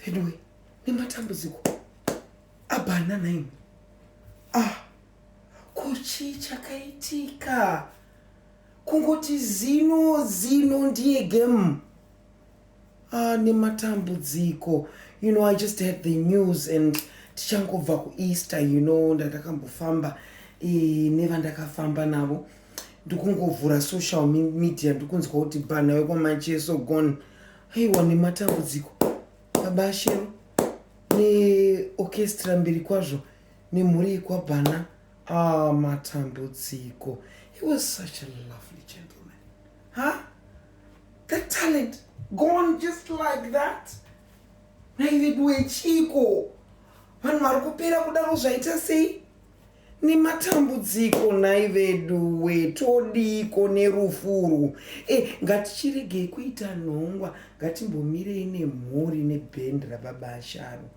veduwe nematambudziko abhanana imi ah kuchii chakaitika kungoti zino zino ndiye game ah nematambudziko you know i just had the news and tichangobva kueaster you know ndandakambofamba e, nevandakafamba navo ndikungovhura social media ndikunzwa kuti bhana wekwamacheso gone aiwa nematambudziko baba shero neorchestra mberi kwazvo nemhuri yekwabhana ah, matambudziko he was such a lovely gentleman huh? that talent gone just like that naiveduwe chiko vanhu vari kupera kudaro zvaita sei nematambudziko nhai veduwe todiiko nerufu urwu e ngatichiregei kuita nhongwa ngatimbomirei nemhuri nebhendi rababa asharo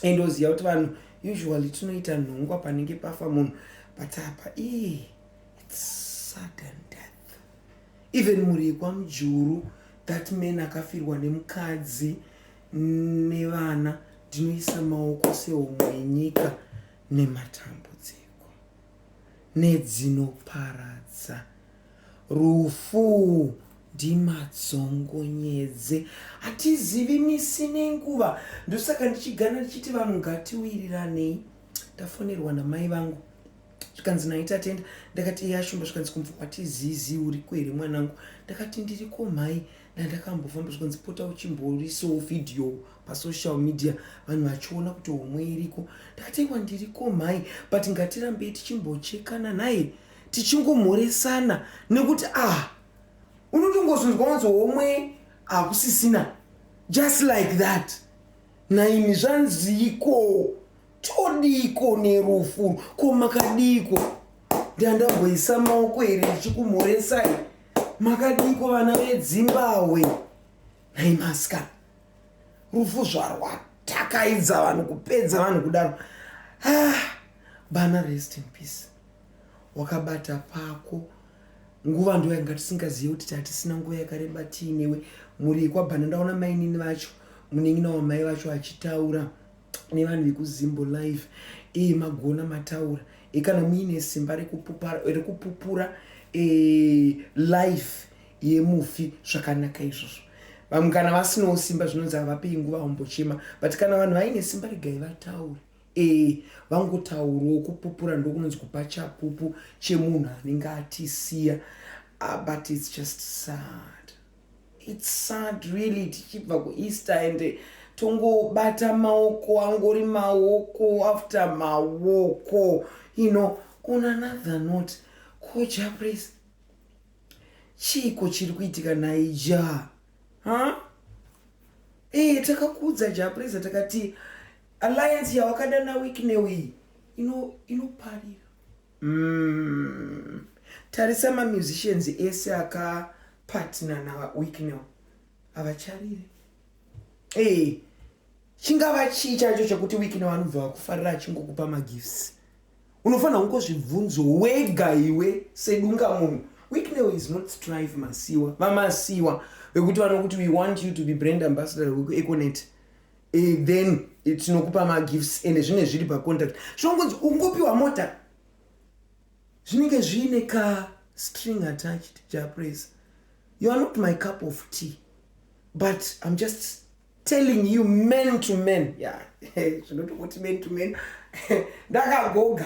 and oziva kuti vanhu usually tinoita nhongwa panenge pafa munhu but apa ii its sudden death even mhuri yekwamujuru that man akafirwa nemukadzi nevana ndinoisa maoko sehomwe yenyika nematambudziko, nedzinoparadza, rufu ndimadzongonyedze hatizivi misi nenguva ndosaka ndichigana ndichiti vanhu ngatiwiriranei ndafonerwa namai vangu zvikanzi naita tenda ndakati iye ashumba zvikanzi kumva watizizi uriko here mwanangu ndakati ndiriko mhai ndandakambofamba zvikanzi pota uchimboisawo vhidhiyo pasocial media vanhu vachiona kuti homwe iriko ndakatengwa ndiriko mhai but ngatirambei tichimbochekana naye tichingomhoresana nekuti ah unotongozonzwa wanzi homwe hakusisina just like that naimi zvanziiko todiiko nerufu ko makadiiko ndandamboisa maoko here ndichikumhoresai makadiiko vana vedzimbahwe nhai maskana rufu zvarwatakaidza vanhu kupedza vanhu kudaro ah, bana rest in peace wakabata pako nguva ndo yanga tisingazive kuti tatisina nguva yakareba tiinewe mhuri yekwabhana ndaona mainini vacho munin'ina wamai vacho achitaura nevanhu vekuzimbo live e, magona mataura e, kana muine simba rekupupura e, life yemufi zvakanaka izvozvo vamwe kana vasinawo simba zvinonzi havapei nguva vambochema but kana vanhu vaine simba regai vataure e, vangotaurawo kupupura ndokunonzi kupa chapupu chemunhu anenge atisiya uh, but its just sad It's sad really tichibva kuEaster and tongobata maoko angori maoko after maoko you know on another note ko japres chiiko chiri kuitika naija ha ee takakuudza japresa takati alliance yawakada naweek neweyi inoparira ino Mm. Tarisa ma musicians ese aka partner na Wicknell. Avacharire. Eh. Hey, chingava chii chacho chekuti Wicknell anobva vakufarira achingokupa ma gifts. Unofanira kungo zvibvunzo wega iwe sedunga munhu. Wicknell is not strive masiwa. Vamasiwa vekuti vanokuti we want you to be brand ambassador weku Econet. eh, then tinokupa magifts ende zvinenge zviri pacontact zvongonzi ungopiwa mota zvinenge zviine ka string attached japraise you are not my cup of tea but im just telling you man to man ya zvinotokuti man to man ndakagoga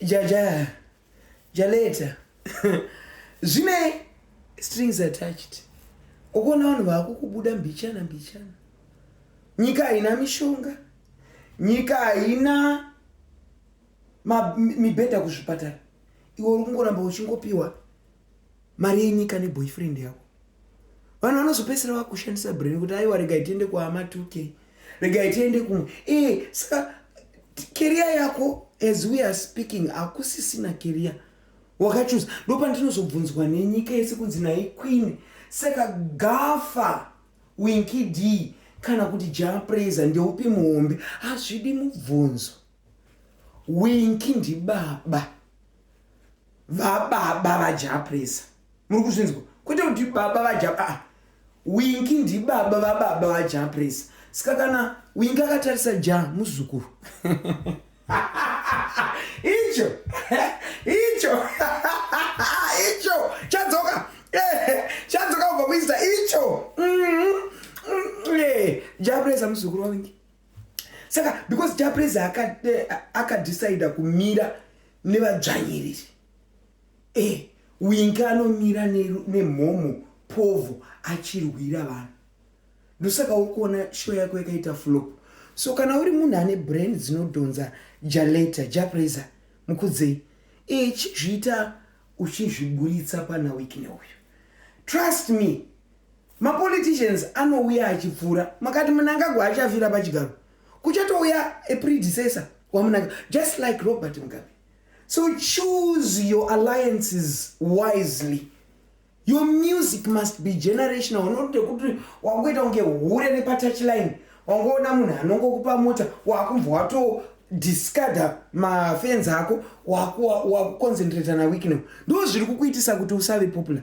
jaja jaleta zvine strings attached ukuona vanhu vakukubuda mbichana mbichana nyika haina mishonga nyika haina mibhedha kuzvipatara iwe uri kungoramba uchingopiwa mari yenyika neboyfriend yako vanhu vanozopedzisira vakushandisa brain kuti aiwa regai tiende kuama 2k regai tiende kumwe ee saka keriya yako as we are speaking hakusisina keriya wakachuza ndo pandinozobvunzwa nenyika yese kunzi nai queen saka gafa winki d kana kuti japraiser ndeupi muhombe hazvidi mubvunzo Winky ndibaba vababa vajapresa muri kuzvinzwa kwete kuti baba vajapa ah, winki ndibaba vababa vajapresa saka kana winki akatarisa ja muzukuru icho icho icho chadzoka eh, chadzoka kubva kuisa icho mm-hmm. mm-hmm. eh, japresa muzukuru wawinki saka because japrez akadecider aka kumira nevadzvanyiriri e eh, winka anomira nemhomo ne povo achirwira vanhu ndosaka uri kuona show yako yakaita flop so kana uri munhu ane brand dzinodhonza jaleta japreza mukudzei e chizviita uchizviburitsa pana wiki neuyu trust me mapoliticians anouya achipfuura makati munangagwa achafira pachigaro kuchatouya a predecessor wamunanga just like robert mugabe so choose your alliances wisely your music must be generational not yekuti wakuita kunge hure nepatouchline wangoona munhu anongokupa mota wakumva wato discarda mafenzi ako wakuconcentrata naweeknow ndo zviri kukuitisa kuti usave popular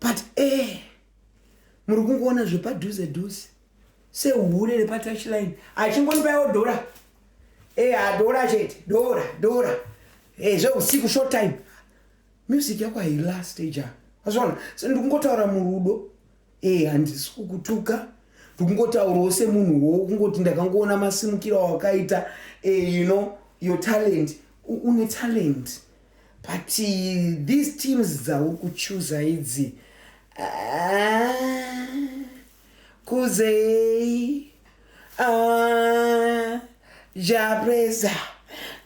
but eh muri kungoona zvepadhuze dhuze sehure repatouchline achingondipaiwo dhora eh adhora chete dhora dhora eh zveusiku short time music yako hailast eja azvona so ndikungotaura murudo eh handisi kukutuka ndikungotaurawo semunhu wo kungoti ndakangoona masimukiro awakaita eh you know your talent une talent But these teams dzauri kuchuza idzi ah, kuzei ah, japresa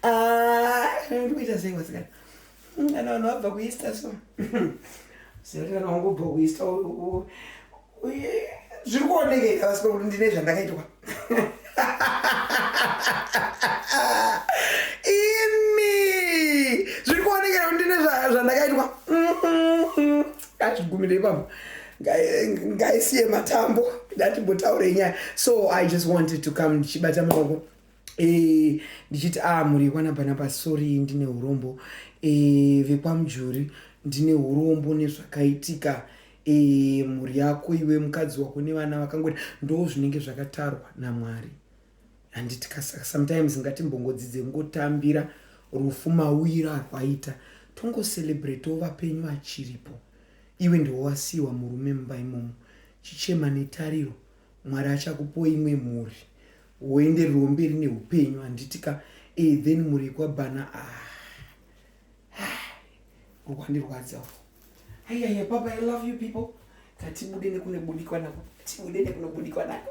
ah, ndikuita sei wasikana kana vanhu vabva kuista so sekuti kana wangobva kuista zviri kuonekeka vasiko kuti ndine zvandakaitwa imi zviri kuonekera kuti ndine zvandakaitwa achigumirei pamo ngaisiye matambo ndatimbotaurei nyaya so i just wanted to come ndichibata maoko Eh, ndichiti a ah, mhuri yekwana bhanabha sori ndine urombo eh, vekwamujuri ndine urombo nezvakaitika eh, mhuri yako iwe mukadzi wako nevana vakangoti ndo zvinenge zvakatarwa namwari handiti sometimes ngatimbongodzidze ngotambira rufu mauira arwaita tongocelebrate ovapenyu vachiripo iwe ndiwowasiyiwa murume mumba imomo chichema netariro mwari achakupoi imwe mhuri woenderwo mberi neupenyu handiti ka e then muri kwabhana ah. ah. ukwandirwadzawo ayaya baba i love you people katibude nekunobudikwa nako tibude nekunobudikwa nako